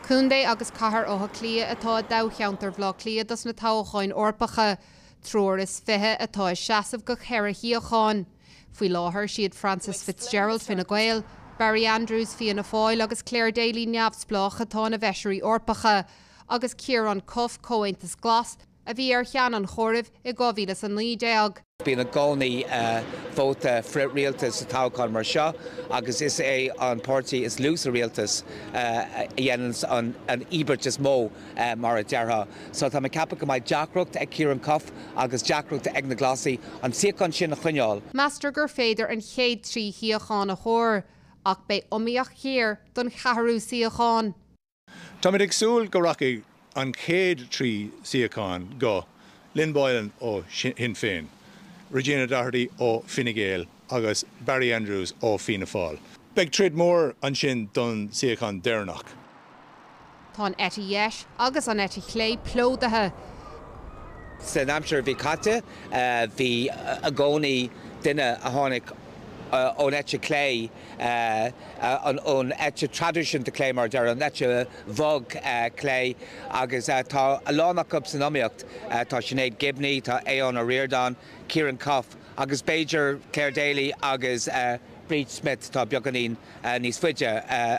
Contae agus Cathair Átha Cliath atá i dtoghcheantar Bhaile Átha Cliath dos na toghacháin Eorpacha. Triúr is fiche atá ag seasamh do cheithre shuíochán. Faoi láthair, is iad Frances Fitzgerald, Fine Gael, Barry Andrews, Fianna Fáil, agus Clare Daly, Neamhspleách, atá ina bhFeisirí Eorpacha, agus Ciaran Cuffe, Comhaontas Glas, a bhí ar cheann an chomhairimh i 2019. Bíonn i gcónaí vóta frith-rialtais sa toghchán mar seo agus is é an páirtí is lú sa rialtas a dhéananns an íobairt is mó, mar a déarfá. So tá mé ag ceapadh go mbeidh deacracht ag Ciaran Cuffe agus deacracht ag na Glasaigh an suíochán sin a choinneáil. Meastar gur féidir an chéad trí shuíochán a thuar ach beidh iomaíocht ghéar don cheathrú suíochán. Táimid ag súil go rachaidh an chéad trí suíochán go, Lynn Boylan ó Shinn Féin, Regina Doherty ó Fine Gael agus Barry Andrews ó Fianna Fáil. Beidh troid mór ansin don suíochán deireanach. Tá an eite dheis agus an eite chlé plódaithe. San aimsir a bhí caite, bhí i gcónaí duine a tháinig ón eite chlé. ón eite traidisiúnta clé, mar a déarfá, an eite bhog clé agus tá a lán acu san iomaíocht, tá Sinéad Gibney, tá Aodhán Ó Ríordáin, Ciaran Cuffe agus b'fhéidir Clare Daly agus Bríd Smith atá beagáinín níos faide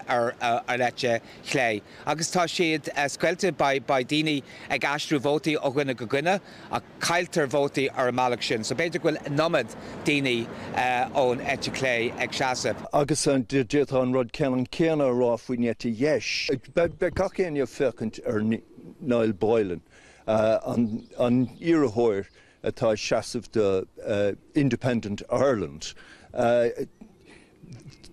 ar an eite chlé. Agus tá siad scoilte, beidh daoine ag aistriú vótaí ó dhuine go duine. Ach cailltear vótaí ar an mbealach sin, so b'fhéidir go bhfuil an iomad daoine ón eite chlé ag seasamh. Agus d'fhéadfá an rud ceannann céanna a rá faoin eite dheis. Beidh gach éinne ag féachaint ar Niall Boylan, an iarrthóir atá ag seasamh do Independent Ireland.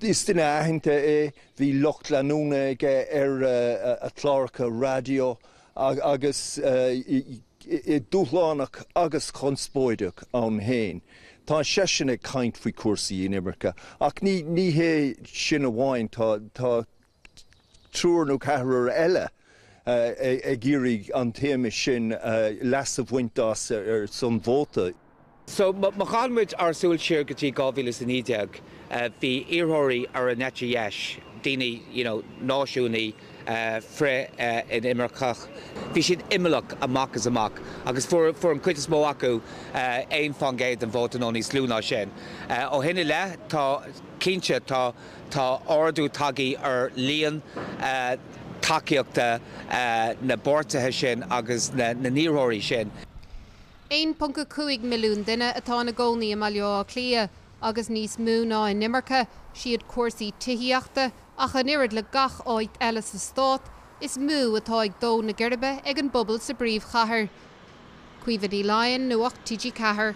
Is duine aitheanta é, bhí lucht leanúna aige ar a chláracha raidió Agus é dúshlánach agus conspóideach ann féin, tá seisean ag caint faoi chúrsaí inimirce. Ach ní hé sin amháin, tá, tá triúr nó ceathrar eile ag iarraidh an téama sin, leas a bhaint as ar son vóta. So, má chaitheann muid ár súil siar go dtí 2019, bhí iarrthóirí ar an eite dheis, daoine, you know, náisiúnaigh, frith-inimirceach, bhí siad imeallach amach is amach agus fuair, fuair an chuid is mó acu aon faoin gcéad den vóta nó níos lú ná sin. Ó shin i leith, tá, cinnte, tá, tá ardú tagthaí ar líon tacaíochta na bpáirtithe sin agus na, na n-iarrthóirí sin. 1.5 milliún duine atá ina gcónaí i mBaile Átha Cliath agus níos mó ná inimirce, siad cúrsaí tithíochta, ach an oiread le gach áit eile sa stát, is mó atá ag dó na geirbe ag an bpobal sa bpríomhchathair. Caoimhe Ní Laighin, Nuacht TG4.